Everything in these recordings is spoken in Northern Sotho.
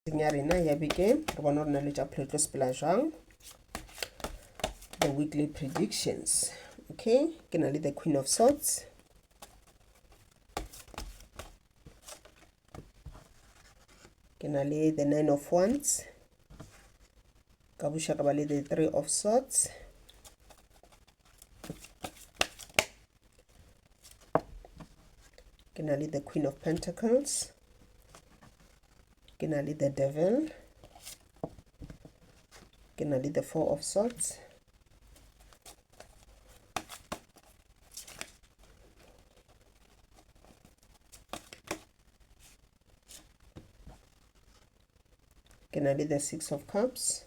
ya rena ya bekeng re bona gore na le tša pholo tlo sepela jang the weekly predictions okay ke na le the queen of swords ke na le the nine of wands ka buša ka ba le the three of swords ke na le the queen of pentacles ke na le the devil ke na le the four of swords ke na le the six of cups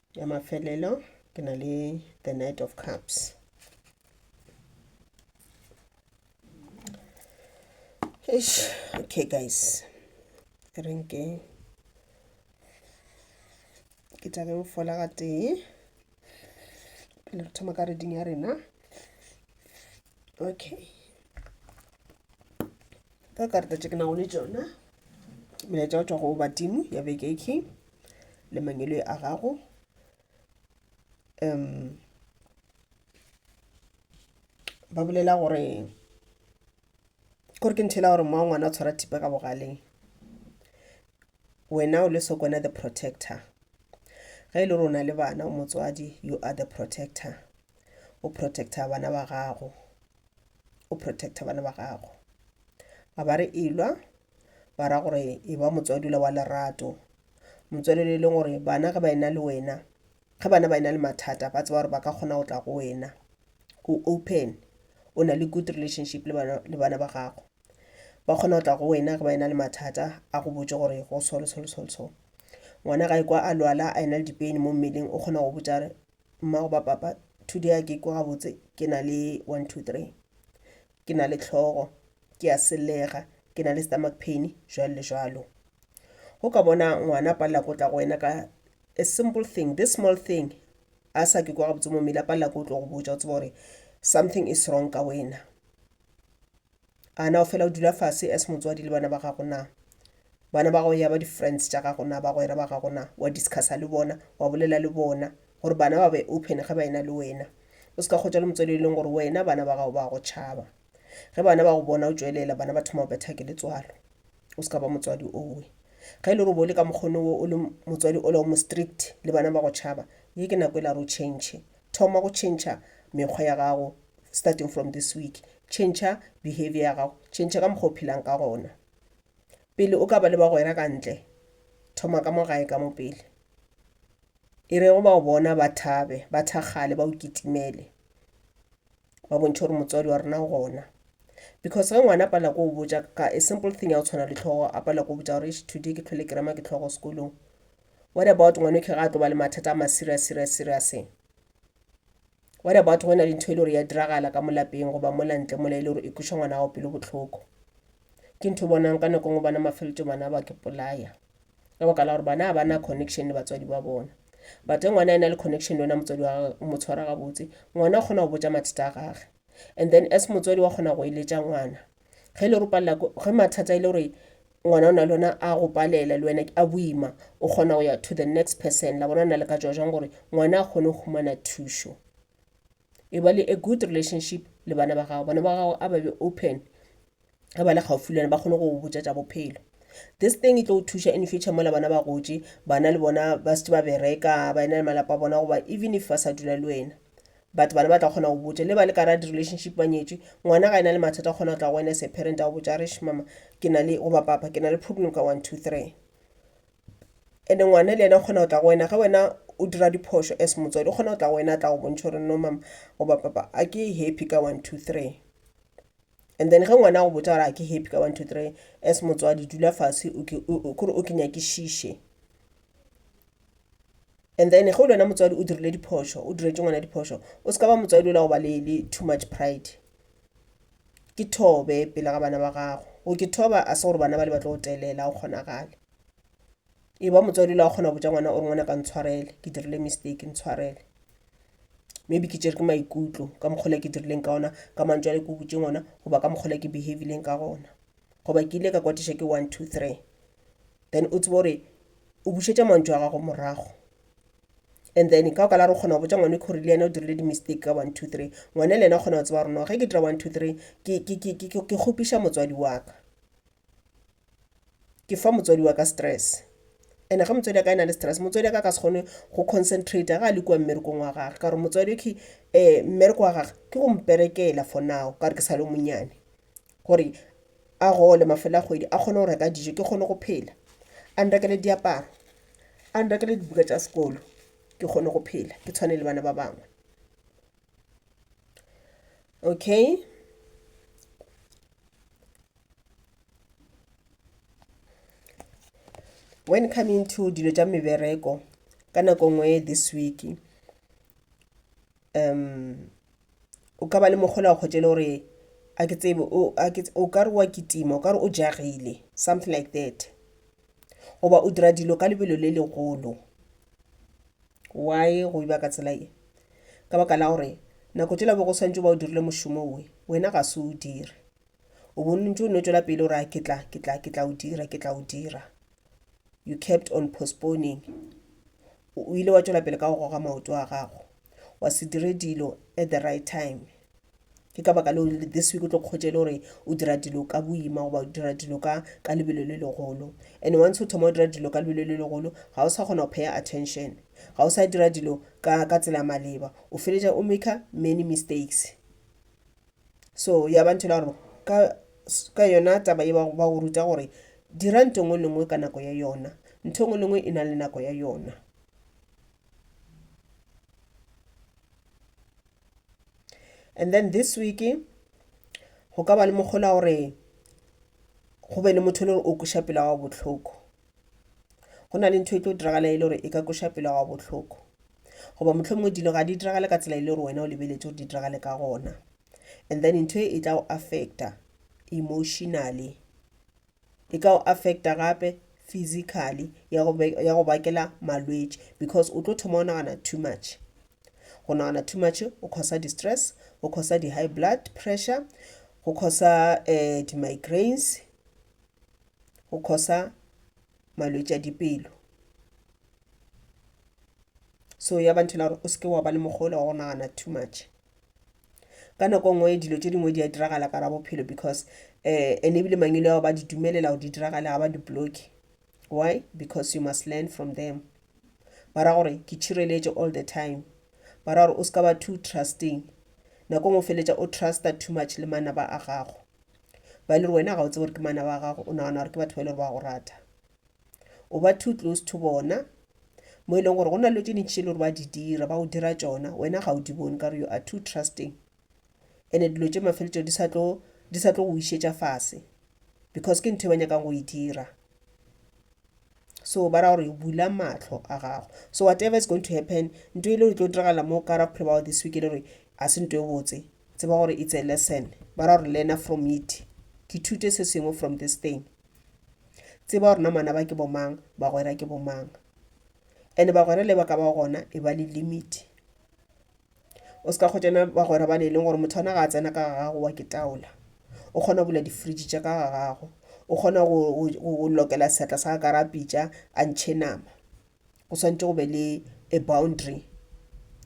ya mafelelo ke na le the night of cups Eish, okay guys re nke ke tabeng fola ga tee pele re thoma ka reding ya rena okay ka karata tše ke nago le tšona melaetša go tšwa go badimo ya beke e king le mangelo a gago um ba bolela gore kore ke nthela gore moa ngwana o tshwara thipa ka bogaleng wena o le sokwana the protector ge e le rona le bana o motswadi you are the protector o protector bana ba gago o protecta bana ba gago a ba re elwa ba ra gore e ba motswadula wa lerato motswadula e leng gore bana ge ba ena le wena ge bana ba ena le mathata ba tseba gore ba ka kgona go tla go wena o open o na le good relationship le bana, le bana ba gago ba kgona go tla go wena ge ba ena le mathata a go botse gore go so le so le so le so ngwana ga e kwa a lwala a ena le dipeni mo mmeleng o kgona go botsa re Mma goba Papa, today a ke ikwe gabotse ke na le one, two, three. Ke na le tlhogo, ke a sellega, ke na le stomach pain, jwalo le jwalo. Go ka bona ngwana a palela ko tla go wena ka a simple thing, this small thing, a sa ke kwa gabotse mo mmele a palela ko tlo go botša o tseba gore something is wrong ka wena. A na o fela o dula fase as motswadi le bana ba gago na? Bana ba gago ya ba di-friends tša gago na, bagwera ba gago na? Wa discussa le bona, wa bolela le bona, gore bana ba be open ge ba ena le wena. O se ka kgotša le motswadi yo e leng gore wena bana ba gago ba a go tšhaba. Ge bana ba go bona o tšwelela, bana ba thoma go betha ke letswalo. O se ka ba motswadi owe. Ge e le gore o bo o le ka mokgono wo, o le motswadi ola o mo strict le bana ba go tšhaba, ye ke nako e la gore o change. Thoma go tšhentšha mekgwa ya gago starting from this week. Tšhentšha behavior ya gago. Tšhentšha ka mokgwa o phelang ka gona. Pele o ka ba le bagwera ka ntle, thoma ka mo gae ka mo pele. E rego ba go bona ba thabe, ba thakgale, ba o kitimele, ba bontšhe gore motswadi wa rena o gona. Because ge ngwana a pala ko o botša ka a simple thing ya go tshwana le tlhogo, a pala ko o botša gore eish today ke tlhole ke rema ke tlhogo sekolong, What about ngwanoke ga a tlo ba le mathata a ma serious serious serious? What about go na le ntho e le gore ya diragala ka molapeng goba mola ntle mola e le gore e kweša ngwana gago pelo bohloko? Ke ntho bonang ka nako ngwe bana mafelotso bana ba ke polaya ka baka la gore bana ba na connection le batswadi ba bona but ge ngwana e na le connection le wena motswadi wa gage o mo tshwara gabotse ngwana o kgona go botsa mathata a gage and then as motswadi wa kgona go eletša ngwana ge le ropalela ge mathata e le gore ngwana o na le ona a go palela le wena a boima o kgona go ya to the next person la bona na le ka tswa jang gore ngwana a kgone go humana thušo e ba le a good relationship le bana ba gago bana ba gago a ba be open ge ba le gaufi le wena ba kgone go botša tša bophelo this thing e tlo go thuša in future mola bana ba gotše bana le bona ba setse ba bereka ba ena le malapa a bona goba even if ba sa dula le wena But bana ba tla kgona go botša, le ba le ka ra di-relationship ba nyetšwe, ngwana ga ena le mathata o kgona go tla go wena as a parent a go botša a re, eish mama, ke na le, goba papa, ke na le problem ka one, two, three. And-e ngwana le yena o kgona go tla go wena ge wena o dira diphošo as motswadi, o kgona go tla go wena a tla go bontšha gore no mama goba papa a ke happy ka one, two, three. and then ge ngwana a go botsa gore a ke happy ka one two three as motswadi dula fase kore o ke nyakišiše and then ge o le wena motswadi o dirile diphošo o diretše ngwana diphošo o se ka ba motswadi o la go ba le too much pride ke thobe pele ga bana ba gago go ke thoba a se gore bana ba le ba tlo go telela go kgonagale e ba motswadi la kgona go botša ngwana ore ngwana ka ntshwarele ke dirile mistake ntshwarele maybe ke tšere ke maikutlo ka mokgola ke dirileng ka ona ka mantso ale ke botse ngwana goba ka mokgola ke behavileng ka gona goba ke ile ka kwatiša ke one two three then o tsebo gore o bušetša mantso a gago morago and then ka oka la re kgona go botsa ngwane gore le yena o dirile di-mistake ka one two three ngwane le yena o kgona go tseba gore no ge ke dira one two three ke kgopiša motswadi wa ka ke fa motswadi wa ka stress and ge motswadi wa ka e na le stress motswadi wa ka ka se kgone go concentrate ga a le kua mmerekong wa gage ka gore motswadi okay um mmereko wa gage ke go mperekela for now ka gore ke sa le monyane gore a gole mafelo a kgwedi a kgone go reka dijo ke kgone go phela a nrekele diaparo a nrekele dibuka tša sekolo ke kgone go phela ke tshwane le bana ba bangwe. okay when coming to dilo tša mebereko ka nako ngwe this week um o ka ba le mogola wa kgotšele gore a ke tsebe o ka re wa kitima o ka re o jagile something like that goba o dira dilo ka lebelo le legolo Why go iba ka tsela ye? Ka baka la gore nako tšela bo go swantšo ba o dirile mošomo we, wena ga se o dire. O bontše o nno tšwela pele o ra ke tla, ke tla, ke tla o dira, ke tla o dira. You kept on postponing. O ile wa tšwela pele ka go goga maoto a gago. Wa se dire dilo at the right time. ke ka baka leo rile this week o tlo kgotše le gore o dira dilo ka boima goba o dira dilo ka ka lebelo le legolo and once o thoma o dira dilo ka lebelo le legolo ga o sa kgona go paya attention ga o sa dira dilo ka ka tsela maleba o feletša o maker many mistakes so ya ba ntho la gore ka ka yona taba e ba go ruta gore dira nto ngwe le ngwe ka nako ya yona nto ngwe le ngwe e na le nako ya yona and then this week go ka ba le mokgola gore go be le motho le gore o kweša pela wa bohloko go na le ntho e tlo diragala e le gore e ka kweša pela wa bohloko goba motlho mongwe dilo ga di diragale ka tsela e le gore wena o lebeletse gore di diragale ka gona and then ntho e e tla go affecta emotionally e ka go affecta gape physically ya go be- ya go bakela malwetši because o tlo thoma o nagana too much go nagana too much o causa di-stress o causa di-high blood pressure go causa um di-migraines go causa malwetši a dipelo so ya ba ntho e le gore o seke wa ba le mokgwa o le wa go nagana too much ka nako nngwe dilo tše dingwe di a diragala ka ra bophelo because um and ebile mangwele ao ba di dumelela go di diragale ga ba di bloke why because you must learn from them ba ra gore ke tšhireletše all the time ba ra gore o se ka ba too trusting nako ngwe feletša o trusta too much le manaba a gago ba e le gore wena ga o tsebe gore ke manaba a gago o nagana gore ke batho ba e le gore ba go rata o ba too close to bona mo e leng gore go na le tše dintši tše le gore ba di dira ba o dira tšona wena ga o di bone ka gore you are too trusting and-e dilo tše mafeletšo di sa tlo di sa tlo go išetša fase because ke ntho e ba nyakang go e dira so ba ra gore bula matlho a gago so whatever is going to happen nto ile e tlo diragala mo ka ra pholobago this week e le gore a se nto e botse tseba gore it's a lesson ba ra gore learner from it ke thute se sengwe from this thing Tseba gore namana ba ke bomang, bagwera ke bomang. Ene bagwera le ba ka ba gona e ba le limit. O se ka kgotšana bagwera ba ne e leng gore motho ona ga a tsena ka ga gago wa ke taola. O kgona bula di-fridge tša ka ga gago. O kgona go lokela seatla sa ka ra pitša a ntšhe nama. Go swantše go be le a boundary,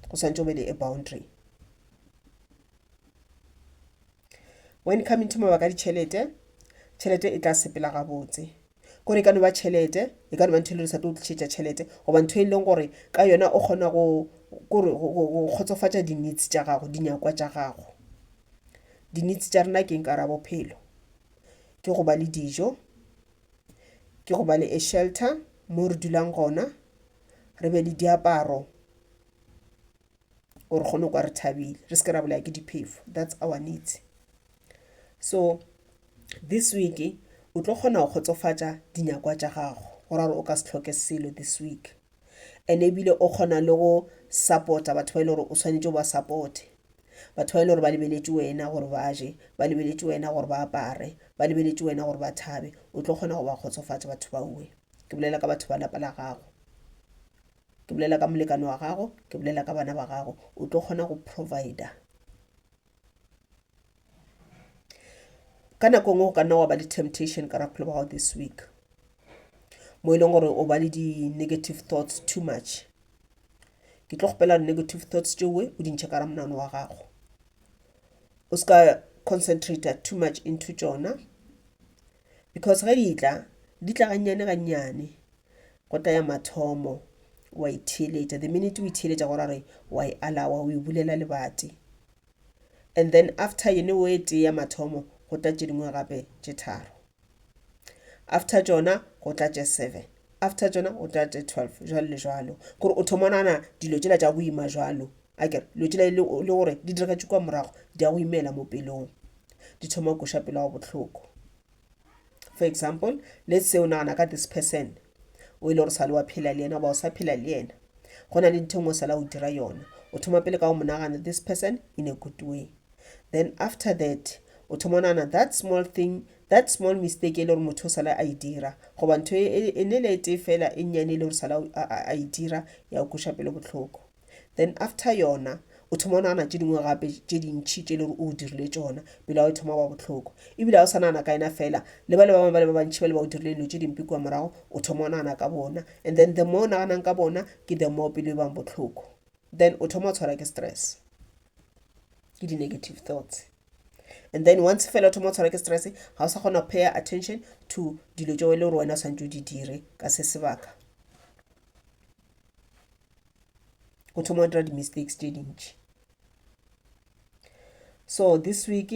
go swantše go be le a boundary. When it come into mabaka a ditšhelete, tšhelete e tla sepela gabotse. Kore e ka no ba tšhelete, e ka no ba ntho e le re sa tlo tlišetša tšhelete goba ntho e leng gore ka yona o kgona go kore go kgotsofatša di-needs tša gago, dinyakwa tša gago. Di-needs tša rena ke eng ka gare ga bophelo? Ke go ba le dijo, ke go ba le a shelter mo re dulang gona, re be le diaparo or re kgone kwa re thabile re se ke ra bolaya ke diphefo that's our needs so this week o tlo kgona go kgotsofatša dinyakwa tša gago go ra gore o ka se tlhoke selo this week and ebile o kgona le go supporta batho ba e le gore o tshwanetse o ba supporte batho ba e le gore ba lebeletše wena gore ba je ba lebeletše wena gore ba apare ba lebeletše wena gore ba thabe o tlo kgona go ba kgotsofatša batho baue ke bolela ka batho ba lapa la gago ke bolela ka molekane wa gago ke bolela ka bana ba gago o tlo kgona go provider ka nako e nngwe go ka nna wa ba le temptation ka rapholo ba gago this week mo e leng gore o ba le di-negative thoughts too much ke tlo kgopela gore negative thoughts tšeoe o dintšhe ka ra monano wa gago o se ka concentrata too much into tšona Because ge di tla, di tla gannyane gannyane. Go tla ya mathomo, wa itheeletša. The minute o itheeletša go ra gore wa e alawa, o e bulela lebati. And then after yene o e tee ya mathomo, go tla tše dingwe gape tše tharo. After tšona, go tla tše seven. After tšona, go tla tše twelve, jwalo le jwalo. Kore o thoma nana dilo tšela tša boima jwalo, A ke re, dilo tšela e le gore di diragatše kua morago di a go imela mo pelong, di thoma go koša pelo ya go bohloko. For example, let's say o nagana ka this person o e le gore sale wa phela le yena goba o sa phela le yena go na le ntho ngwe sala o dira yona o thoma pele ka go mo nagana this person in a good way then after that o thoma o nagana that small thing that small mistake e le gore motho o sala a e dira goba ntho e ne le e tee fela e nnyane e le gore sala a e dira ya o koša pelo botlhoko then after yona o thoma o nagana tše dingwe gape tše dintšhi tše e le gore o dirile tsona pelo o thoma wa botlhoko ebile ga o sa nagana ka ena fela le ba le ba bangwe ba le ba bantšhi ba le ba o dirile dilo tše dimpe kua morago o thoma o nagana ka bona and then the more o naganang ka bona ke the more pelo e bang botlhoko then o thoma o tshwara ke stress ke di-negative thoughts and then once fela o thoma o tshwara ke stress ga o sa kgona go paya attention to dilo tšeo e le gore wena o tshwanetse o di dire ka se sebaka o thoma wa dira di-mistakes tše dintši so this week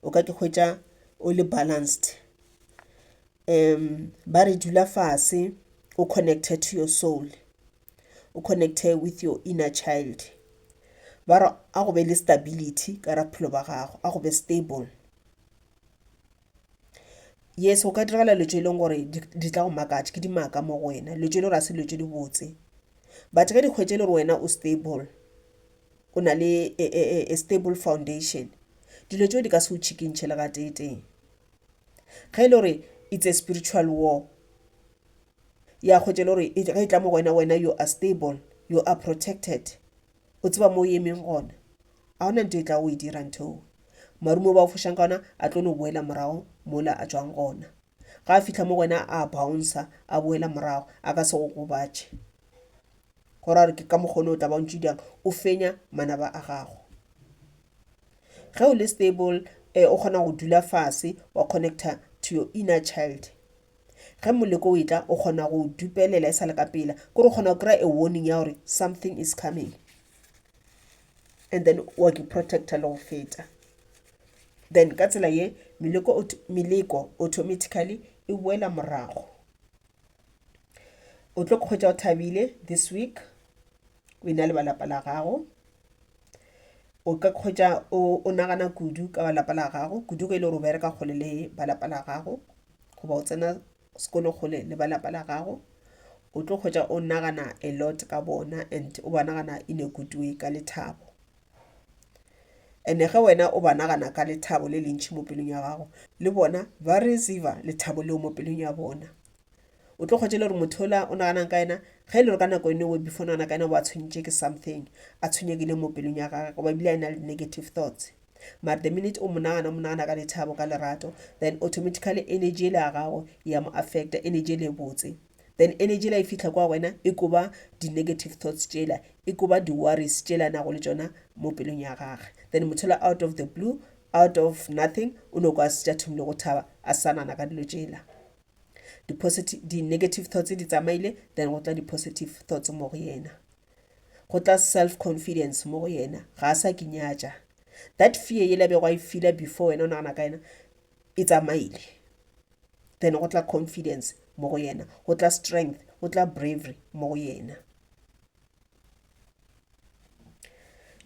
o ka ke hwetša o le balanced um ba re dula fase o connecte to your soul o connecte with your inner child ba re a go be le stability ka ra bophelo ba gago a go be stable Yes go ka diragala dilo tse e leng gore di tla go makatša, ke dimaka mo go wena. Dilo tse e le gore ga se dilo tse dibotse. But ge di hwetša e le gore wena o stable, o na le a stable foundation, dilo tse di ka se go tšhikintšhe le gatee tee. Ge e le gore it's a spiritual war, ya hwetša e le gore ge e tla mo go wena, wena you are stable, you are protected. O tseba mo o emeng gona. A gona nto e tlago go e dira nthoo. Marumo ba o fošang ka ona a tlo no boela morago mola a tšwang gona. Ga a fihla mo go wena a bouncer, a boela morago, a ka se go gobatše. Go ra gore ke ka mokgwa o ne o tla ba o ntše o dirang, o fenya manaba a gago. Ge o le stable, o kgona go dula fase wa connecter to your inner child. Ge moleko o etla, o kgona go o dupelela e sa le ka pela. Kore o kgona go kry-a a warning ya gore something is coming. And then wa ke protector le go feta. Then ka tsela ye, meleko, meleko automatically e boela morago. O tlo kgwetsa o thabile this week, o ena le ba lapa la gago. O ka kgwetsa o nagana kudu ka ba lapa la gago, kudu ge e le gore o bereka kgole le ba lapa la gago. goba o tsena sekolo kgole le ba lapa la gago o tlo kgwetsa o nagana a lot ka bona and o ba nagana in a good way ka lethabo ene ge wena o ba nagana ka lethabo le lentšhi mo pelong ya gago le bona ba receiva lethabo leo mo pelong ya bona o tlo kgwetse le gore motho ola o naganang ka ena ge e le gore ka nako enowe before nagana ka ena o ba tshwenyitše ke something a tshwenyekile mo pelong ya gage goba ebile a e na le negative thoughts Mara the minute o monagana, o monagana ka lethabo, ka lerato, then automatically energy ele ya gago ya mo affecta, energy ele e botse. Then energy ela e fihla kwa wena e koba di-negative thoughts tšela, e koba di-worries tšela nago le tšona mo pelong ya gage. Then motho ela out of the blue, out of nothing, o no kwa setse a thomile go thaba, a sa nana ka dilo tšela. Di-negative thoughts di tsamaile, then go tla di-positive thoughts mo go yena. Go tla self confidence mo go yena. Ga a sa ke nyatša. That fear yela bego a e feela before wena o nagana ka yena e tsamaile. Then go tla confidence mo go yena. Go tla strength, go tla bravery mo go yena.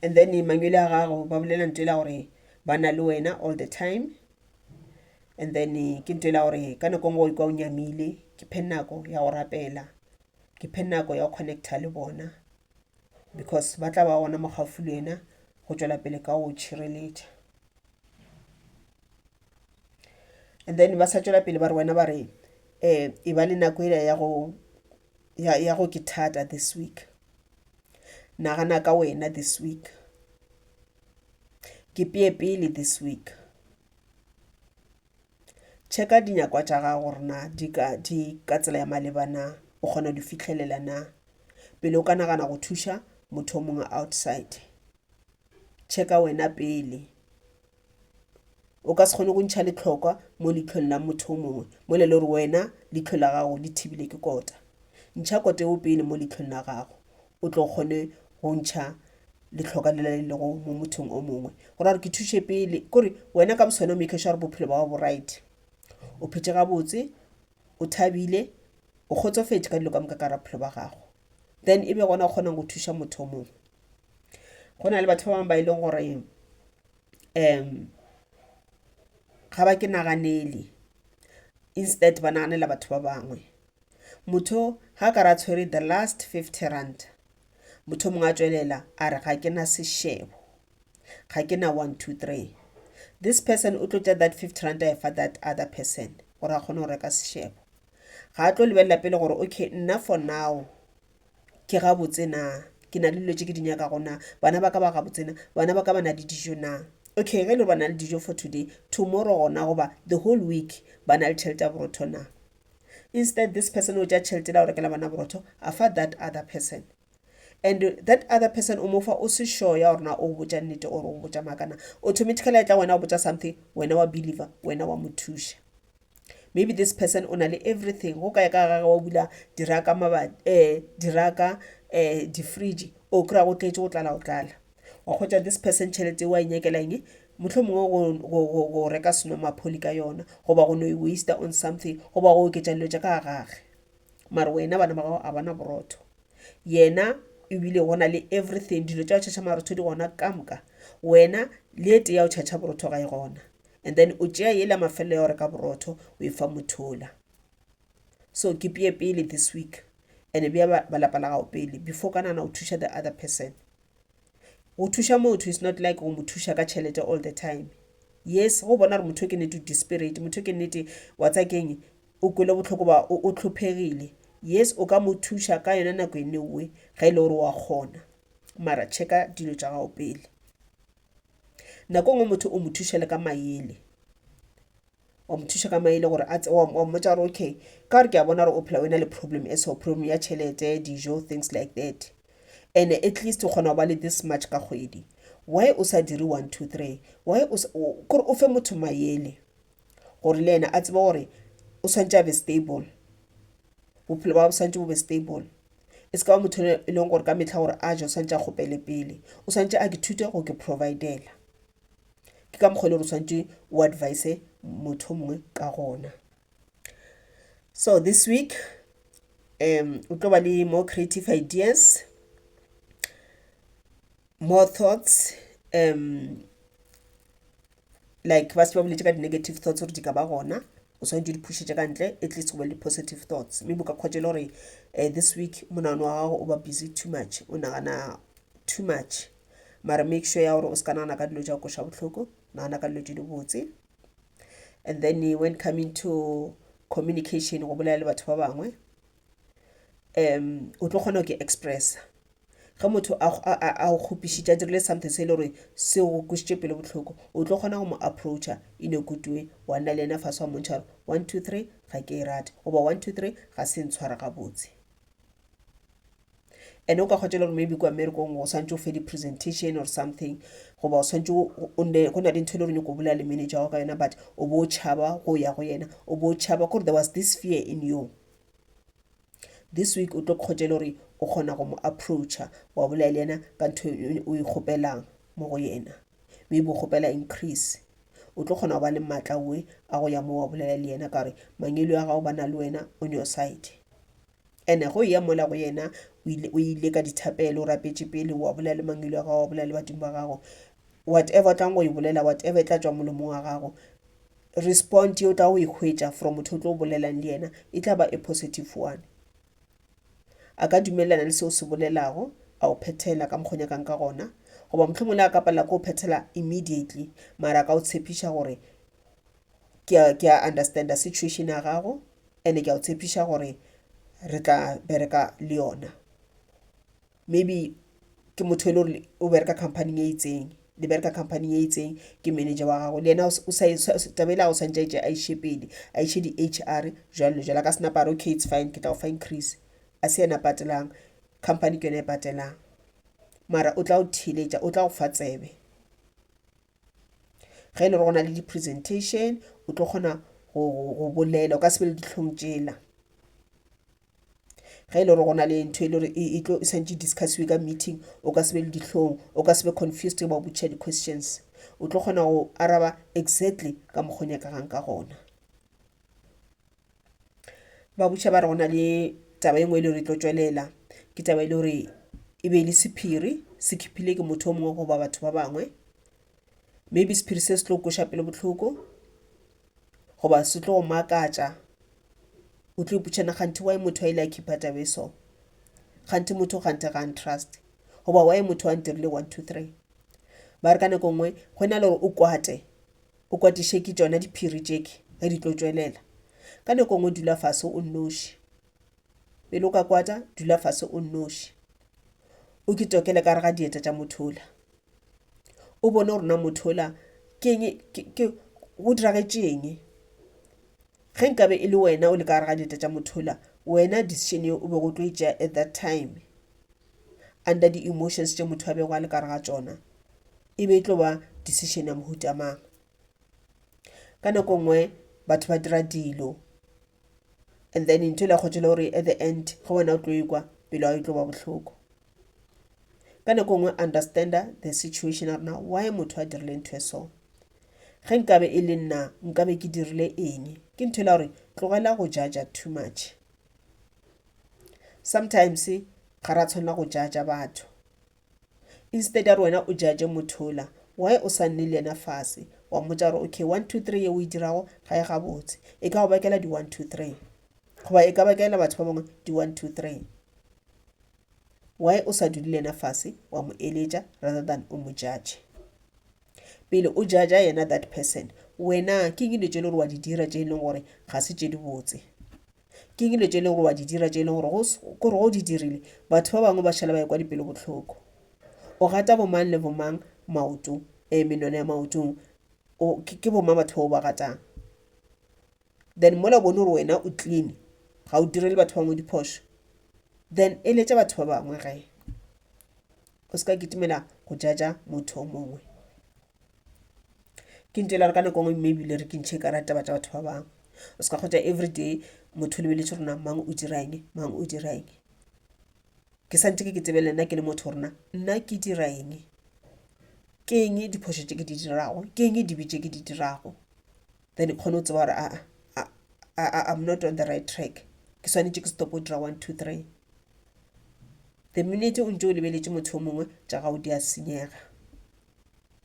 And then manywele a gago ba bolela nto ela gore ba na le wena all the time and then ke nto ela gore ka nako ngwe o ikwa o nyamile ke phe nako ya go rapela ke phe nako ya go connecta le bona because ba tla ba gona mo gaufi le wena go tšwela pele ka go tšhireletša and then ba sa tšwela pele ba re wena ba re um e ba le nako ela ya go ya go ke thata this week nagana ka wena this week ke peye pele this week Tšheka dinyakwa tša gago gore na di ka, di ka tsela ya maleba na, o kgona go di fihlelela na, pele o ka nagana go thuša motho o mongwe outside. Tšheka wena pele. O ka se kgone go ntšha letlhokwa mo leitlhong la motho o mongwe mola e le gore wena leihlo la gago le thibile ke kota. Ntšha kote o pele mo leitlhong la gago. o tlo kgone go ntšha letlhoka le le lego mo mothong o mongwe gore gore ke thuše pele kore wena ka bosone o make sure gore bophelo ba bo right o phetse gabotse o thabile o kgotsofetše ka dilo ka moka ka ra bophelo ba gago then e be gona o kgonang go thuša motho o mongwe go na le batho ba bangwe ba e leng gore um ga ba ke naganele instead ba naganela batho ba bangwe Motho ga ka ra tshwere the last 50 rand, motho mongwe a tšwelela a re ga ke na sešebo, ga ke na one, two, three. This person o tlo tša that 50 rand a e fa that other person gore a kgone go reka sešebo. Ga a tlo lebelela pele gore okay nna for now ke gabotse na, ke na le dilo tše ke di nyakago na, bana ba ka ba gabotse na, bana ba ka ba na le dijo na. Okay ge e le gore ba na le dijo for today, tomorrow gona goba the whole week ba na le tšhelete ya borotho na. instead this person o tša tšhelete la go rekela bana borotho a fa that other person and that other person o mofa o se sure ya gore na o botša nnete or o botša makana automatically e tla wena o botša something wena wa believer wena wa mo thuša maybe this person o na le everything go kae ka gage wa bula diraka mabati um eh, diraka um eh, difridge o kry-a go tletse go tlala go tlala wa kgwetsa this person tšhelete e wa e nyakela eng motlho mongwe go reka seno mapholi ka yona goba go no e waste on something goba go oketsa dilo tša ka gage mare wena bana ba gago a bana borotho yena ebile go na le everything dilo tša go tšhatšha marotho di gona ka moka wena le ete ya go tšhatšha borotho ga e gona and then o tšea yela mafelelo ya go reka borotho o e fa mothola so ke peye pele this week and-e bja balapa la gago pele before ka nana o thuša the other person go thuša motho is not like go mo thuša ka tšhelete all the time yes go bona gore motho ke nete o desperate motho ke nete wa tsa keng o kwele botlhoko ba o tlhophegile yes o ka mo thuša ka yone nako e newe ga e le gore wa kgona mara checka dilo tša gago pele nako nngwe motho o mo thušele ka mayele wa mo thuša ka maele gore a tse wa wa mmotsa gore okay ka gore ke a bona gore o phela o e na le problem e so problem ya tšhelete dijo things like that and at least o kgona go ba le this much ka kgwedi why o sa dire one two three why o sa- o- kore o fe motho mayele gore le yena a tsebe gore o swantse a be stable bophelo ba bo swantse bo be stable e se ka ba motho e leng gore ka metlha gore a je o swantse a kgopele pele o swantse a ke thute go ke providela ke ka mokgwa e le gore tshwanetse o advise motho o mongwe ka gona so this week um o tlo ba le more creative ideas more thoughts um like ba se ba boletse ka di-negative thoughts gore di ka ba gona o tshwanetse di phušetše ka ntle at least go be le positive thoughts maybe o ka kgwatša e le gore um this week monagano wa gago o ba busy too much o nagana too much mara make sure ya gore o se ka nagana ka dilo tša go koša bohloko nagana ka dilo tše di botse and then when coming to communication go bolela le batho ba bangwe um o tlo kgona go ke expressa ge motho a go- a- a- a go kgopišitše a dirile something se e le gore se go kwešitše pelo bohloko o tlo kgona go mo approacha in a good way wa nna le yena fase wa montšha gore one two three ga ke e rate goba one two three ga se ntshwara gabotse and o ka kgotsa le gore maybe kwa mmerekong o swantse o fe di-presentation or something goba o swantse go na le ntho e le gore nyoko o bolela le manager wa ka yona but o bo o tšhaba go ya go yena o bo o tšhaba kore there was this fear in you this week o tlo kgotsa le gore o kgona go mo approacha wa bolela le yena ka ntho e, o e kgopelang mo go yena maybe o kgopela increase o tlo kgona go ba le maatla oe a go ya mo wa bolela le yena ka gore mangelo ya gago ba na le wena on your side And go eya mola go yena o ile, o ile ka dithapelo, o rapetše pele, wa bolela le mangwele wa gago, wa bolela le badimo ba gago. Whatever o tlang go e bolela, whatever e tla tšwa molomong wa gago, respond ye o tla go e hwetša from motho o tlo o bolelang le yena e tla ba e positive one. A ka dumelelana le seo o se bolelago, a o phethela ka mokgo o nyakang ka gona. Goba mohlomongwe le a ka palela ke go phethela immediately, mara a ka o tshepiša gore ke a, ke a understanda situation ya gago and ke a o tshepiša gore re tla bereka le yona maybe ke motho e le gore o bereka company-ing e itseng le bereka company e itseng ke manager wa gago le yena taba e le ya gore o swantše a e tšee a e še pele a e še di-H_R jwalo le jwalo a ka se napa a re okay it's fine ke tla go fa increase a se yena a patelang company ke yona e patelang mara o tla go theeletša o tla go fa tsebe. ge e le go na le di-presentation o tlo kgona go bolela o ka se be le dihlong tšela ge e le gore go na le ntho e le gore e tlo e santse discussiwe ka meeting o ka se be le dihlong o ka se be confused ba botšha di-questions o tlo kgona go araba exactly ka mokgwa o nyakagang ka gona ba botša ba re go na le taba e nngwe e le gore e tlo tšwelela ke taba e le gore e be e le sephiri se khiphile ke motho o mongwe goba batho ba bangwe maybe sephiri se se tlo kweša pelo bohloko goba se tlo go makatša o tlo ipotšana kganthe wa motho a ile a khipha taba e so kganthe motho kganthe ga ntrust goba wa motho a ntirile one two three ba re ka nako nngwe go na le gore o kwate O kwatiše ke tšona diphiri tšeke ge di tlo tšwelela. Ka nako ngwe dula fase o nnoši. Pele o ka kwata, dula fase o nnoši. O ke tokele ka re ga dieta tša motho ola. O bone gore na motho ola keng, ke, ke, go diragetšeng. Ge nkabe e le wena o le ka gare ga dieta tša motho ola, wena decision ye o be go tlo e tšea at that time, under di-emotions tše motho a bego a le ka gare ga tšona, e be e tlo ba decision ya mohuta mang ka nako nngwe batho ba dira dilo and then ntho le kgotse le gore at the end ge wena o tlo ikwa pelo ya e tlo ba bohloko ka nako nngwe understanda the situation ya rena why motho a dirile ntho e so ge nkabe e le nna nkabe ke dirile eng ke ntho la gore tlogela go jaja too much sometimes ga ra tshwanela go jaja batho Instead ya gore wena o judge motho ola, why o sa nne le yena fase wa mmotša gore okay one two three ye o e dirago ga e gabotse, e ka go bakela di one two three goba e ka bakela batho ba bangwe di one two three. Why o sa dule le yena fase wa mo eletša rather than o mo judge? Pele o judge yena that person wena ke eng dilo tše e le gore wa di dira tše e leng gore ga se tše di botse? Ke eng dilo tše e lego gore wa di dira tše e lego gore gore go di dirile batho ba bangwe ba šala ba ekwa dipelo bohloko? O gata bomang le bomang maoto, um menwana ya maotong? O, ke, ke bomang batho ba o ba gatang? Then mola o bone gore wena o clean, ga o direle batho ba bangwe diphošo, then eletša batho ba bangwe ge. O se ka kitimela go jaja motho o mongwe. ke ntše lare ka nako ngwe mme ebile re ke ntšhe ka ra taba tša batho ba bangwe o se ka kgotsa everyday motho lebeletše gore na mang o dira eng mang o dira eng ke sa ntse ke ke tsebe le nna ke le motho gore na nna ke dira eng ke eng diphošo tše ke di dirago ke eng dibe tše ke di dirago then kgone go tseba gore aa I'm not on the right track ke swanetše ke stop go dira one two three the minute o ntse o lebeletše motho yo mongwe tša gago di a senyega.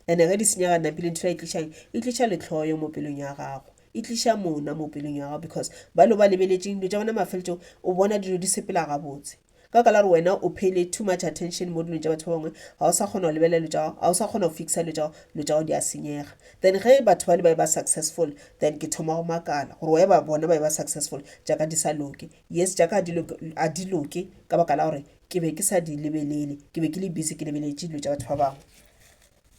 ene ge di senyega napile ntho e tlišang e tliša lehloyo mo pelong ya gago e tliša mona mo pelong ya gago because ba lo ba lebeletseng dilo tša bona mafeletsong o bona dilo di sepela gabotse ka baka la gore wena o phele too much attention mo dilong tša batho ba bangwe ga o sa kgona go lebelela dilo tša gago ga o sa kgona go fixa dilo tša gago dilo tša gago di a senyega then ge batho ba le ba e ba successful then ke thoma go makala gore wa e ba bona ba e ba successful jaaka di sa loke yes jaaka a di loke ka baka la gore ke be ke sa di lebelele ke be ke le busy ke lebeletše dilo tša batho ba bangwe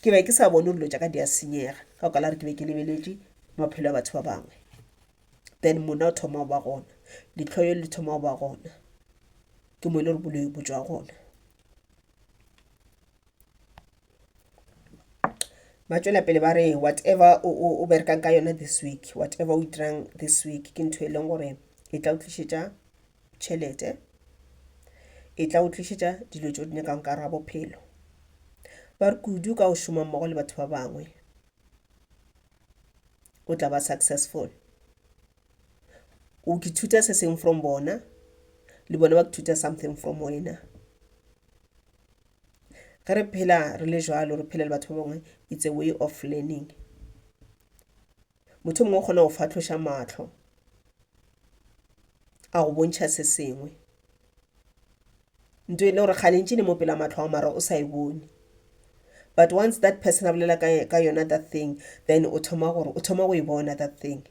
ke be ke sa bone dilo tša ka di a senyega ka go kala gore ke be ke lebeletše maphelo a batho ba bangwe then mona o thoma go ba gona ditlhoyo le thoma go ba gona ke mo e le gore boloi bo tswa gona ba tšwela pele ba re whatever o, o, o berekang ka yona this week whatever o dirang this week ke ntho e leng gore e tla o tlišetša tšhelete e tla o tlišetša dilo tšeo di nyakang ka ra bophelo ba re kudu ka o šoma mmogo le batho ba bangwe o tla ba successful o kithuta se seng from bona le bona ba kithuta something from wena ge re phela re le jalo re phela le batho ba bangwe it's a way of learning motho mongwe o kgona go fatlhoša matlho a go bontšha se sengwe nto e le gore kgalentši ne mo pela matlho a mara o sa e bone but once that person a bolela ka yona that thing then o thoma gore o thoma go e bona that thing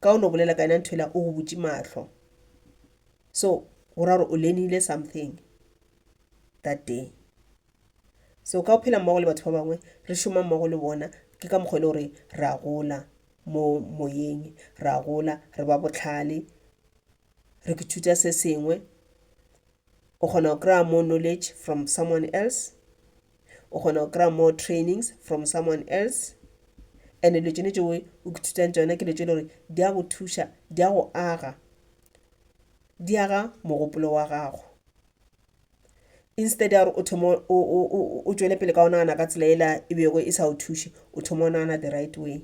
ka o no bolela ka yena ntho ela o go butše mahlo so go ra gore o lenile something that day so ka go phela mmogo le batho ba bangwe re šoma mmogo le bona ke ka mokgwa e le gore re a gola mo moyeng re a gola re ba botlhale re ithuta se sengwe O kgona go kry-a more knowledge from someone else. O kgona go kry-a more trainings from someone else. And-e dilo tšone tšeo o ithutang tšona ke dilo tše e le gore di a go thuša, di a go aga, di aga mogopolo wa gago. Instead ya gore o thome o tšwele pele ka go nagana ka tsela e la e bego e sa go thuše, o thoma go nagana the right way.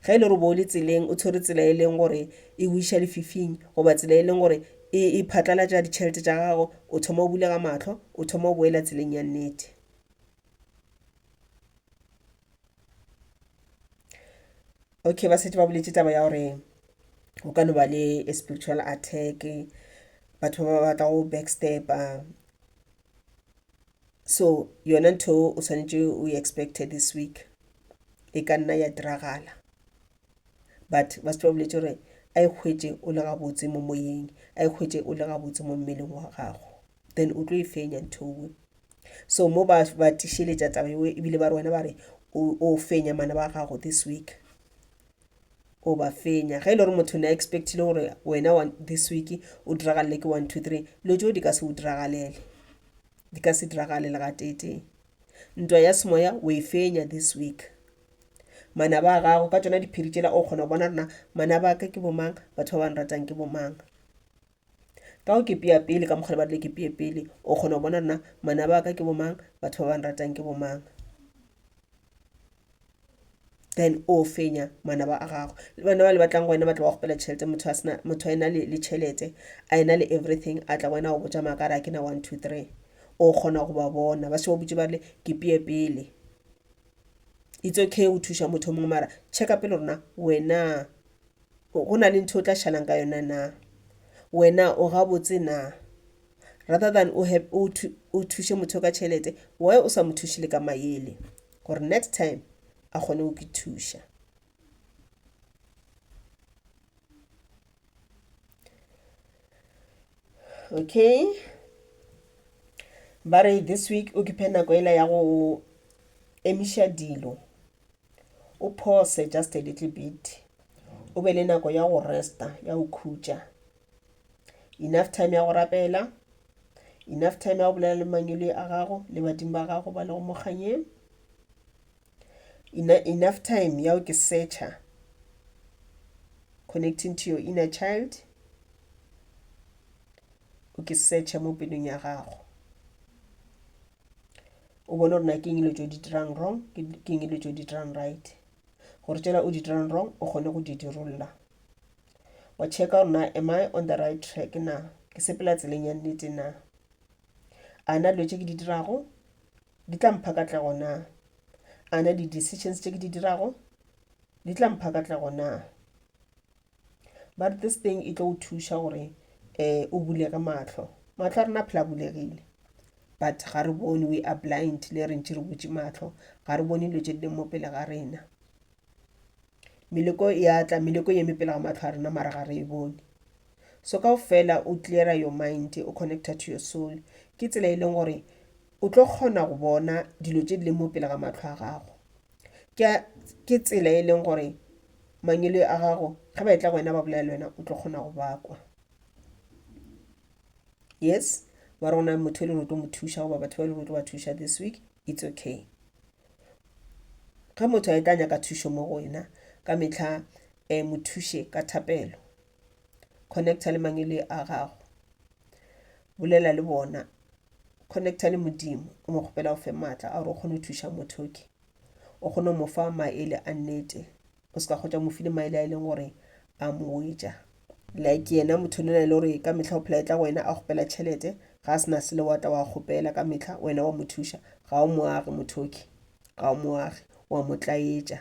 Ge e le gore bo le tseleng, o tshwere tsela e leng gore e go iša lefifing, goba tsela e leng gore e, e phatlalatša ditšhelete tša gago, o thoma o bulega mahlo, o thoma o boela tseleng ya nnete. Okay, ba setse ba boletše taba ya gore go ka no ba le a spiritual attack, batho ba ba batla go backstep-a, so yona ntho o swanetše o expecte this week e ka nna ya diragala but ba se ba boletse gore a e hwetše o le gabotse mo moyeng a e hwetše o le gabotse mo mmeleng wa gago then o tlo e fenya nthowe so mo ba ba tišeletša taba eo ebile ba re wena ba re o fenya mana ba gago this week o ba fenya ge e le gore motho ne a expectile gore wena this week o diragalele ke one two three lo tšeo di ka se o diragalele di ka se diragale le gateetee ntwa ya semoya o e fenya this week manaba a gago ka tsona diphiri tšela o kgona go bona rena manaba a ka ke bomang batho ba ba nratang ke bomang Ka go kipea pele ka mokgwa le barile kipee pele, o kgona go bona na manaba a ka ke bomang, batho ba ba nratang ke bomang. Then o fenya manaba a gago. Le bana ba le batlang go wena ba tla ba go kgopela tšhelete, motho a sena, motho a ena le le tšhelete, a ena le everything, a tla go wena a go botša maaka a re a ke na one, two, three. O kgona go ba bona, ba se ba go botše ba rile kipee pele. It's okay go thuša motho o mongwe mara check-a pele gore na wena. Go na le ntho o tla šalang ka yona na? Wena o gabotse na? Rather than o, have, o, thu, o thuše motho ka tšhelete, why o sa mo thuše le ka mayele? Gore next time a kgone go ke thuša. Okay. Ba re this week o ke phe nako ela ya go emiša dilo o phose just a little bit o be le nako ya go resta ya go khutša enough time ya go rapela enough time ya go bolela le mangwele a gago le badimo ba gago ba lego mo kganyeng enough time ya go ke searcha connecting to your inner child o ke searcha mo pelong ya gago o bone gore na ke eng dilo tse o di dirang wrong ke eng dilo tse o di dirang right gore tsela o di dirang wrong o kgone go di dirolola wa checka gore na am i on the right track na ke sepela tseleng ya nnete na a na dilo tse ke di dirago di tla mpha katlego na a na di-decisions tse ke di dirago di tla mpha katlego na ba re this thing e tlo o thuša gore um o bulege mahlo mahlo a rena phela bulegile but ga re bone we are blind le re ntši re butše mahlo ga re bone dilo tše di leng mo pele ga rena meleko ya tla meleko ye mepele ga mahlo a rena mara ga re e bone so kao fela o cleara your mind o connecta to your soul ke tsela e leng gore O tlo kgona go bona dilo tše di leng mo pele ga matlho a gago. Ke tsela e leng gore mangelo a gago ge ba etla go wena ba bolela le wena o tlo kgona go ba kwa. Yes, wa re go na motho e le gore o tlo mo thuša goba batho ba e le gore o tlo ba thuša this week, it's okay. Ge motho a etla nyaka thušo mo go wena ka metlha um mo thuše ka thapelo. connecta le mangele a gago bolela le bona connecta le modimo o mo kgopela o fe maatla a gore o kgone go thuša motho ke o kgone go mo fa maele a nnete o se ka kgotsa mo file maele a e leng gore a mo wetša like yena motho le na le gore ka metlha o phela e tla go wena a kgopela tšhelete ga a se na sele wa tla wa kgopela ka metlha wena wa mo thuša ga o moage mothoki ga o moage wa mo tlaetša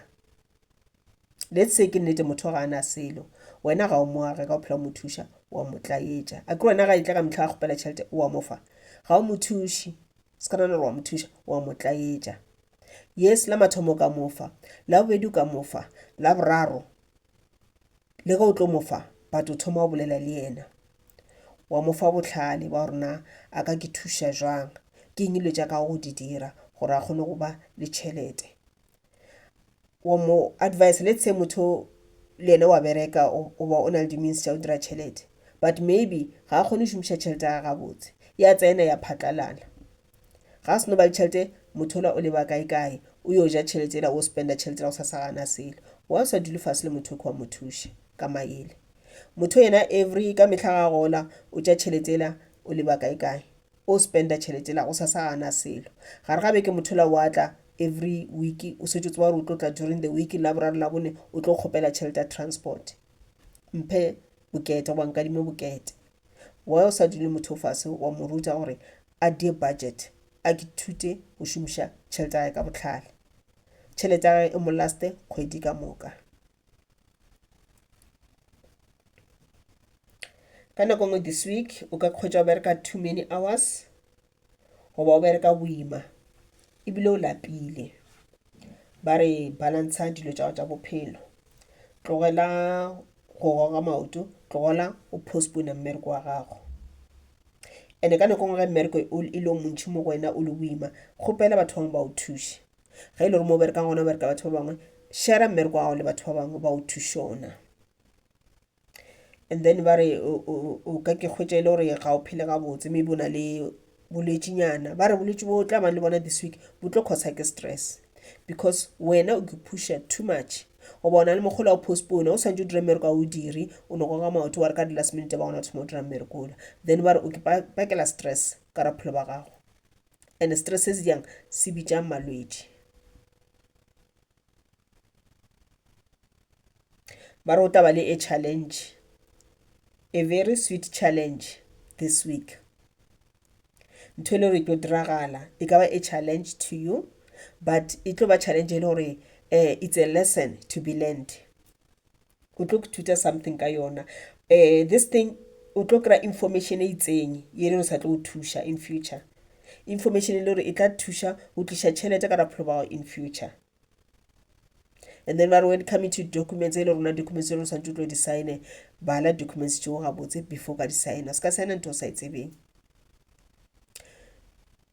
let's say ke nnete motho ga ana selo wena ga o mo age ka o phela o mo thuša wa mo tlaetša a ke wena ga e tla ka mehla a kgopela tšhelete wa mo fa ga o mo thuše se ka nana gore wa mo thuša wa mo tlaetša yes la mathomo ka mo fa la bobedi o ka mo fa la boraro le ge o tlo mo fa but o thoma o bolela le yena wa mo fa bohlale ba gore na a ka ke thuša jwang ke eng dilo tša ka go di dira gore a kgone go ba le tšhelete wa mo advice let's say motho le ene wa bereka o ba o na le di-means tša go dira tšhelete but maybe ga a kgone go šomiša tšhelete ya gabotse ya tsena ya phatlalala ga seno ba le tšhelete motho ola o leba kae kae o yo ja tšhelete ela o spenda tšhelete la go sa sa gana selo wa o sa dule fase le motho kwa mo thuše ka maele motho yena every ka mehla ga gola o tša tšhelete ela o leba kae kae O spenda tšhelete la gosasa ga a na selo. Gare ga beke mothola o a tla, every week o setse o tseba gore o tlo tla during the week, Laboraro, Labone o tlo kgopela tšhelete ya transport. Mphe bokete goba nkadime bokete. Why o sa dule motho o fase wa mo ruta gore a die budget, a kithute go šomiša tšhelete ya gage ka bohlale. Tšhelete ya gage e mo laste kgwedi ka moka. ka nako ngwe this week o ka kgwetsa o bereka too many hours goba o bereka boima ebile o lapile ba re balantsha dilo tsa tsa bophelo tlogela go goga maoto tlogela o postpone mmereko wa gago ande ka nako ngwe ge mmereko e le montšhi mo go wena o le boima kgopela batho bangwe ba o thuše Ge e le gore mo o berekang gona o bereka batho ba bangwe, shera mmereko wa gago le batho ba bangwe ba o thušona. And then ba re o ka ke kgwetša e le gore ga o phele gabotse, maybe o na le bolwetšinyana. Ba re bolwetši bo tla bang le bona this week bo tlo causer ke stress because wena o ipusha too much goba o na le mogolo wa go postpone o swantse o dire mmereko ga o dire o no goga maoto wa re ka di-last minute ba gona o thoma o dira mmereko ola then ba re o ke bakela stress ka raphelo ba gago and stress se se jang se bitšang malwetši ba re o taba le a challenge a very sweet challenge this week ntho e le gore e tlo diragala e ka ba a challenge to you but e tlo ba challenge e le gore um it's a lesson to be learned o tlo thuta something ka yona um this thing o tlo kry-a information e itseng ye le o sa tlo go thuša in future information e le gore e tla thuša go tliša tšhelete ka rapholo bao in future and then ba re when coming to documents e le rona documents e le santse o tlo di-signe bala documents tšeo gabotse before ka di-signa se ka signa ntho o sa e tsebeng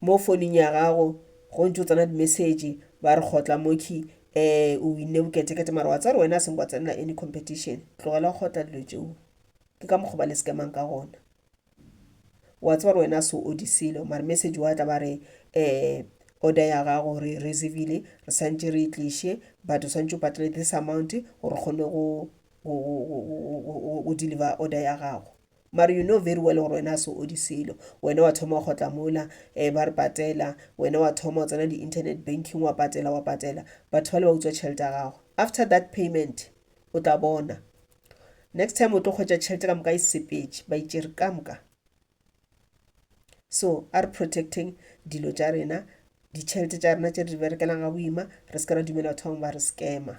mo founung ya gago go ntse o tsena di-message ba re kgotla moki um o winne boketekete mara wa tseba gore wena a seng kwa tsenela any competition tlogela go kgotla dilo tšeo ke ka mokgwa ba le scamang ka gona wa tseba gore wena a se o di selo mare message wa tla ba re um order ya gago re e reserve-ile re swantše re e tliše but o swantše o patale this amount gore kgone go deliver order ya gago mare you know very well gore wena a se odi selo wena wa thoma wa kgotla mola um ba re patela wena wa thoma o tsena di-internet banking wa patela wa patela batho ba le ba utswa tšhelete ya gago after that payment o tla bona next time o tlo kgwetsa tšhelete ka moka e sepetše ba itšere ka moka so a re protecting dilo tša rena ditšhelete tša rena tše re di berekelang ga boima re se ke ra dumela batho bangwe ba re scammer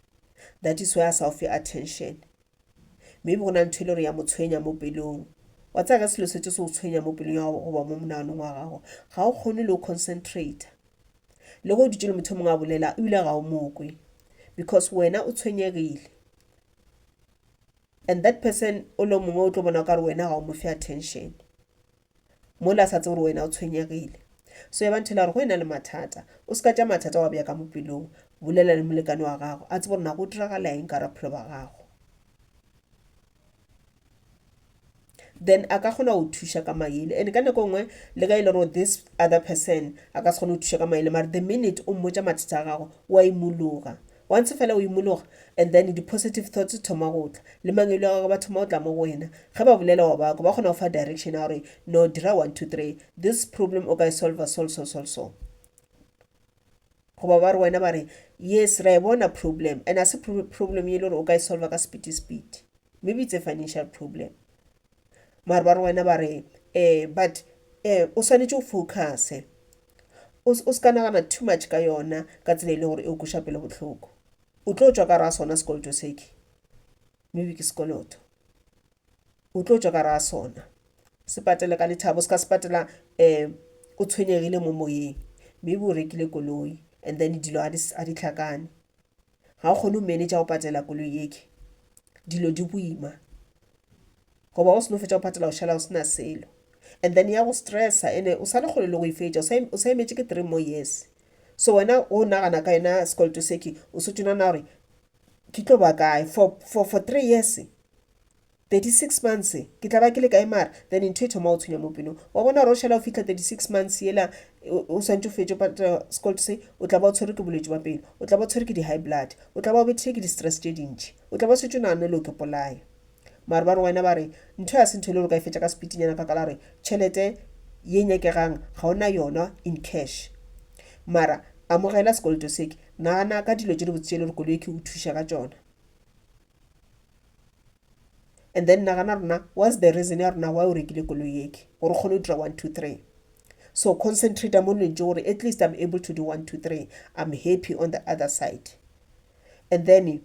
that is why a sa o fe attention maybe go na ntho e le gore ya mo tshwenya mo pelong wa tsaya ka selo se tse se o tshwenya mo pelong ya gago goba mo monaganong wa gago ga o kgone le o concentrate le go dutse le motho mongwe a bolela o ile ga o mokwe because wena o tshwenyegile and that person o le mongwe o tlo bona ka gore wena ga o mo fe attention mola a sa tse gore wena o tshwenyegile so ya banthela gore go e na le mathata o se ka tša mathata wa bjaka mo pelong bolela le molekane wa gago a tse gore na go diragala eng ka raphelo ba gago then a ka kgona go thuša ka maele and ka nako nngwe le ka e le gore this other person a ka se kgone go thuša ka maele mare the minute o mmotša mathata a gago wa imologa Once fela o imologa, and then di positive thoughts di thoma go tla, le mangwele a gagwe ba thoma go tla mo go wena. Ge ba bolela wa ba kwa, ba kgona go fa direction ya gore, no, dira one, two, three, this problem o ka e solva sol, sol, sol, so. Goba ba re wena ba re, yes, ra e bona problem, and a se problem ye e le gore o ka e solva ka sepiti, sepiti. Maybe it's a financial problem. Mare ba re wena ba re eh but eh o swanetše o focuse. O o se ka nagana too much ka yona ka tsela e le gore e go kweša pelo bohloko. O tlo tšwa ka gare ga sona sekoloto seke. Maybe ke sekoloto. O tlo tšwa ka gare ga sona. Se patele ka lethabo. O se ka se patela eh o tshwenyegile mo moyeng. Maybe o rekile koloi and then dilo ga di hlakane. ga o kgone go manage go patela koloi yeke dilo di boima goba o seno fetsa go patela o šala o sena selo and then ya go stressa ene o sale kgole le go e fetša o sa emetše ke three more years so wena o nagana ka yona sekoloto seke o se tšona na gore ke tlo ba kae for three years. 36 months ke tla ba ke le kae mara then ntho e thoma o tshwenya mo pelong wa bona gore o šala o fitlha 36 months yela o swantse o fetše patela sekoloto se o tla ba o tshwere ke bolwetse ba pelo o tla ba o tshwere ke di-high blood o tla ba o bethile ke di-stress tše dintšhi o tla ba o setse o naganne le o ke polaya mare ba re wena ba re ntho ya se ntho e le gore o ka e fetša ka sepitinyana ka kala gore tšhelete ye nyakegang ga o na yona in cash mara amogela sekoloto seke nagana ka dilo tše di botse tše e le gore koloi ke o thuša ka tšona and then nagana rona what's the reason ya rona why o rekile koloi eke gore kgone go dira one two three so concentrate mo lentse gore at least i'm able to do one two three i'm happy on the other side and then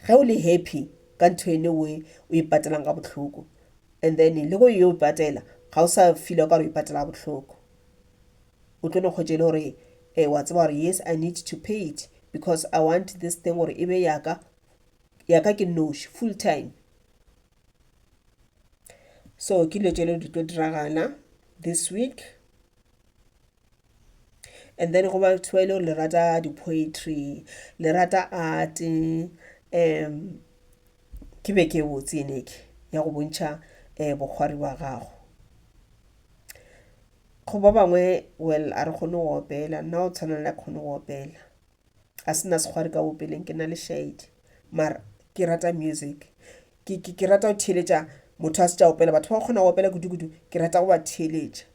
ge o le happy ka ntho ene o e patelang ka bohloko and then le go e o patela ga o sa feel ka gore o e patela bohloko o tlo no kgwetše le gore um wa tseba gore yes i need to pay it because i want this thing gore e be yaka ya ka ke nnoši full time so ke dilo tšelo di tlo diragana this week and then go batho ba e le gore le rata di-poetry le rata art um ke be ke botse eneke ya go bontšha um bokgwari ba gago go ba bangwe well a re kgone go opela nna o tshwana le a kgone go opela ga se na sekgwari ka bopeleng ke na le shaedi mara ke rata music ke, ke, ke rata go theeletša motho a se tša opela batho ba kgona go opela kudu-kudu ke rata go ba theeletša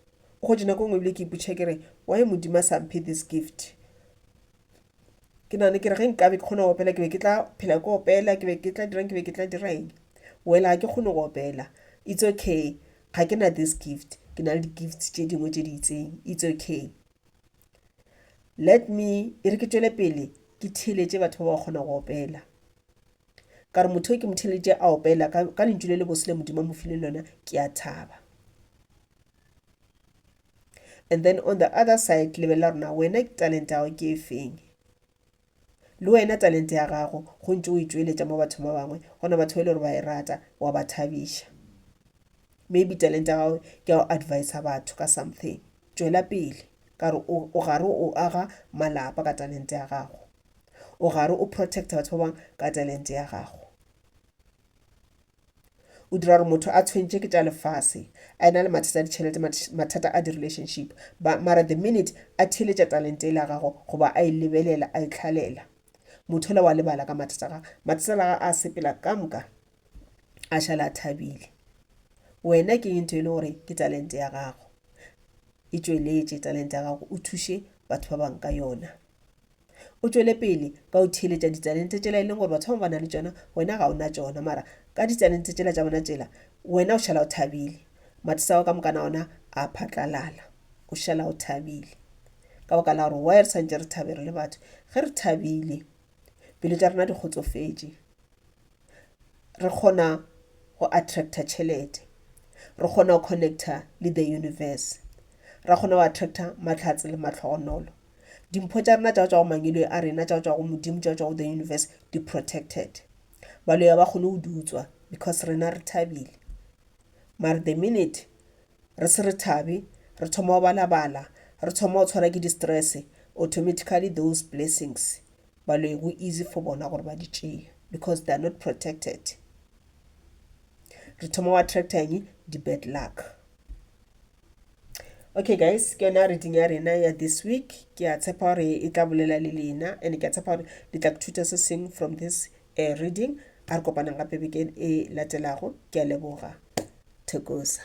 o gotše nako ngwe ebile ke ipotšha ke re why modimo a sa mphe this gift ke nagane ke re ge nkabe ke kgona go opela ke be ke tla phela ke opela ke be ke tla dirang ke be ke tla dirang well ga ke kgone go opela it's okay ga ke na this gift ke na le di-gift tše dingwe tše di itseng it's okay Let me, e re ke tšwele pele ke theeletše batho ba ba kgona go opela. Ka re motho ke mo theeletše a opela ka, ka lentšu le le bose le Modimo mo file lona, ke a thaba. And then on the other side, lebelela rona, wena talent ya gago ke e feng? Le wena talente ya gago go ntše o e tšweletša mo bathong ba bangwe, gona batho ba e le gore ba e rata, wa ba thabiša. Maybe talente ya gago ke ya go advisa batho ka something. Tšwela pele, ka re o, o gare o aga malapa ka talente ya gago. O gare o protecta batho ba bangwe ka talente ya gago. O dira gore motho a tshwentše ke tša lefase, a ena le mathata a ditšhelete, mathata a di-relationship, ba, mara the minute a theeletša talente ele ya gago goba a e lebelela, a e tlhalela, motho ola wa lebala ka mathata a gage. Mathata a gage a sepela ka moka, a šala a thabile. Wena ke eng ntho ele gore ke talente ya gago? E tšweletše talente ya gago, o thuše batho ba bang ka yona. O tšwele pele ka go theeletša ditalente tšela e leng gore batho ba bangwe ba na le tšona, wena ga o na tšona. Mara ka ditalente tšela tša bona tšela, wena o šala o thabile. Matisa a gago ka mokana ona a phatlalala. O šala o thabile. Ka baka la gore why re swantše re thabe re le batho? Ge re thabile, pelo tša rena di kgotsofetše. Re kgona go attracta tšhelete. Re kgona go connecta le the universe. Ra kgona go attracta mahlatse le mahlogonolo. Dimpho tša rena tša go tšwa go mangilweng a rena, tša go tšwa go Modimo, tša go tšwa go the universe, di protected. Baloyi ga ba kgone go di utswa because rena re thabile. Mare the minute re se re thabe, re thoma go balabala, re thoma go tshwara ke di-stress, automatically those blessings baloyi go easy for bona gore ba di tšee because they are not protected. Re thoma go attracta eng? Di-bad luck. okay guys ke yona reading ya rena ya this week ke a tshepa gore e tla bolela le lena and ke a tshepa gore le tla kuthuta se seng from this uh, reading a re kopanang gape bekeng e latelago ke a leboga thekosa